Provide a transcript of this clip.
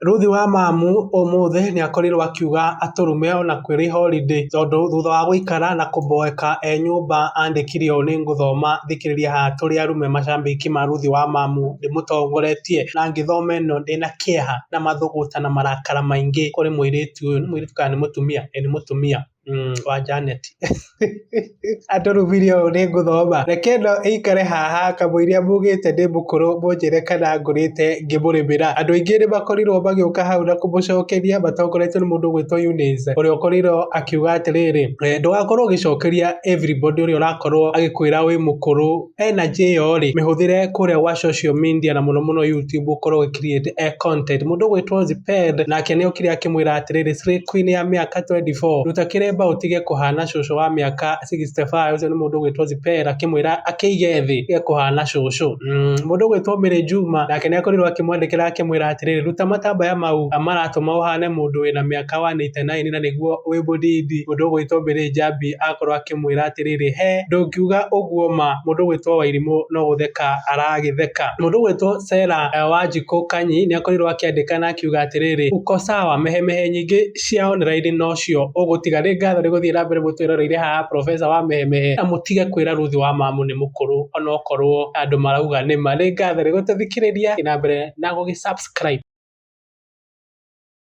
Ruthi wa Mamu ũmũthĩ nĩakorirwo akiuga atũrume ona kwĩrĩ horindĩ tondũ thutha wa gũikara na kũmboeka e nyũmba andĩkire ũũ nĩngũthoma thikĩrĩria haha tũrĩ arume macambĩki ma Ruthi wa Mamu ndĩmũtongoretie na ngĩthoma ĩno ndĩna kĩeha na mathũgũta na marakara maingĩ kũrĩ mũirĩtu ũyũ nĩ mũirĩtu kana nĩ mũtumia? ĩ nĩ mũtumia. Wa Janet. Andũ rubiri ũũ nĩ ngũthoma. Reke ĩno ĩikare haha kamũiria mugĩte ndĩ mũkũrũ mũnjĩre kana ngũrĩte ngĩmũrĩmĩra. Andũ aingĩ nĩ makorirwo magĩũka hau na kũmũcokeria matongoretio nĩ mũndũ ũgwĩtwo Eunice ũrĩa ũkorirwo akiuga atĩrĩrĩ, ndũgakorwo ũgĩcokeria everybody ũrĩa ũrakorwo agĩkwĩra wĩ mũkũrũ. energy ĩyo rĩ mĩhũthĩre kũrĩa gwa social media na mũno mũno YouTube ũkorwo ũ create a eh, content mũndũ gwĩtwo Ziped nake nĩ okire akĩmwĩra atĩrĩrĩ Slay Queen ya mĩaka 24 ruta kĩremba ũtige kũhana cũcũ wa mĩaka 65 ũcio nĩ mũndũ gwĩtwo Ziped akĩmwĩra akĩige thĩ ge kũhana cũcũ mm, mũndũ gwĩtwo Mary Juma nake nĩ akorirwo akĩmwandĩkĩra akĩmwĩra atĩrĩrĩ ruta matambaya mau maratũma ũhane mũndũ wĩna mĩaka 189 na nĩguo wĩ mũdidi mũndũ gwĩtwo Mary Njambi akorwo akĩmwĩra atĩrĩrĩ, he ndũngiuga ũguo ma, mũndũ ũgwĩtwo Wairimũ no gũtheka aragĩtheka. Mũndũ ũgwĩtwo Sera Wanjikũ Kanyi nĩakorirwo akĩandĩka na akiuga atĩrĩrĩ, Uko sawa, mehemehe nyingĩ cia online nocio ũgũtiga. Nĩ ngatho nĩ gũthiĩ na mbere mũtwĩroreire haha Professor wa mehemehe, na mũtige kwĩra Ruth wa Mamu nĩ mũkũrũ onokorwo andũ marauga nĩ ma. Nĩ ngatho nĩ gũtũthikĩrĩria, thiĩ na mbere na gũgĩ subscribe.